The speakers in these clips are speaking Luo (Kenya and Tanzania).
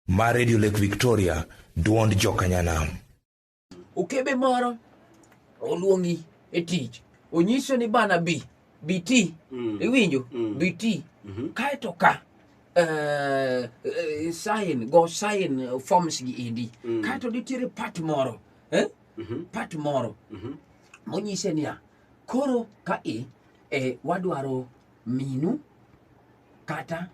ma Radio Lake Victoria, dwond jokanyanam. Okebe moro oluongi e tich, onyiso ni bana bi, bi ti, Mm. iwinjo, Mm. bi ti, Mhm. kaeto ka eh, eh, sign, go sign eh, forms gi endi, Mm. kaeto nitiere part moro, eh? Mhm. part moro Mhm. monyise niya koro ka i e wadwaro minu kata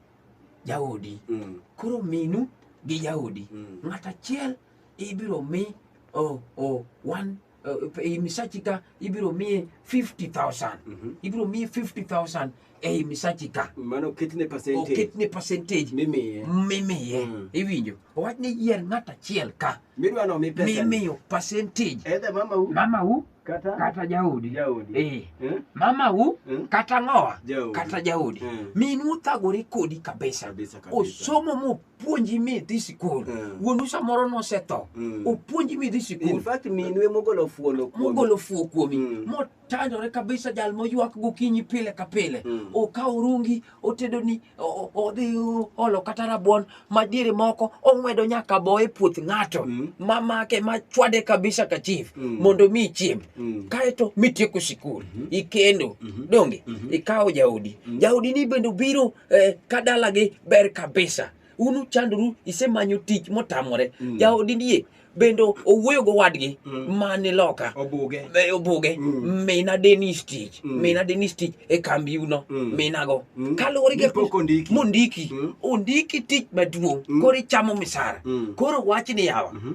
jaodi mm. koro minu gi jaodi mm. ng'at achiel ibiro mi oh, oh, one uh, e misachi ka ibiro miye 50000 mm -hmm. ibiro miye 50000 ei misachi ka mano ketne percentage oketne percentage mimiye mimiye mm. iwinjo owach ni yier ng'at achiel ka midwa no mi pesa mimiyo percentage edhe mama u mama u Kata kata jaodi jaodi. eh, Eh? mamau Eh? kata ng'owa Jaodi. kata jaodi Eh. minu othagore kodi kabisa Kabisa kabisa. osomo mopuonji midhi sikul Eh. wuonu samoro nosetho Mm. opuonji midhi In sikul fact minu ema ogolo fuolo kuome. mogolo fuo kuomi Mm. motanyore kabisa jal moywak gokinyi pile ka pile Mm. okawo rungi otedo ni odhi olo kata rabuon madiere moko ong'wedo nyaka bo e puoth ng'ato mm. ma make ma chwade kabisa ka chief mm. mondo mi chiem mm. kaeto mitieko sikul mm -hmm. ikendo mm -hmm. donge mm -hmm. ikawo jaodi mm -hmm. jaodi ni bende obiro eh, ka dalagi ber kabisa un uchandoru isemanyo tich motamore mm. jaodi ndie bende owuoyo go wadgi mm. mani loka obuge e, obuge mm. mina denis tich mm. mina denis tich e kambi uno mm. mina go mm. kaluwore gi ondiki mondiki mm. ondiki tich maduong mm. koro ichamo misara mm. koro wach ni yawa mm -hmm.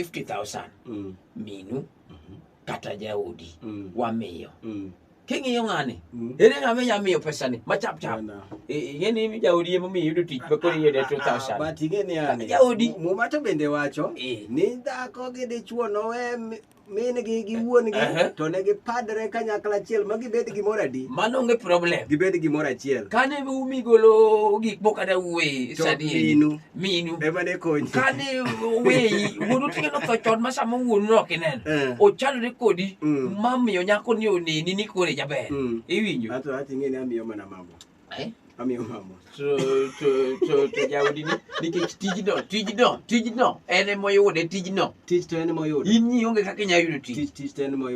50000 mm. minu mm -hmm. kata jaodi mm. wamiyo mm. king'iyo ng'ani Mm. ere ng'a minya miyo pesani machap chap Bwana. ing'eni mi jaodi ema omiyo iyudo tich makoro iyude Ah, 2000 but ing'e ni yani, Jaodi. mu- muma to bende wacho Eh. ni dhako gi dichwo nowe mi- min-gi gi wuon-gi Ehe. to ne gipadre kanyakla achiel ma gibed gimoro adi mano onge problem gibed gimoro achiel kane umi golo gik moko kata wuoyi to sani minu minu ema ne konyi kane oweyi wuonu tinge notho chon ma sama wuonu no ok ineno Eh. ochalore kodi Mm. mamiyo nyako ni oneni ni kore jaber Mm. iwinjo ato ato ing'e ni amiyo mana mama Eh? amiyo mama to to to to jaudi ni nikech tijno tijno tijno en emoyude tijno tich to en moyudo in ionge kaka inyalo yudo tich tich tich to en moyudo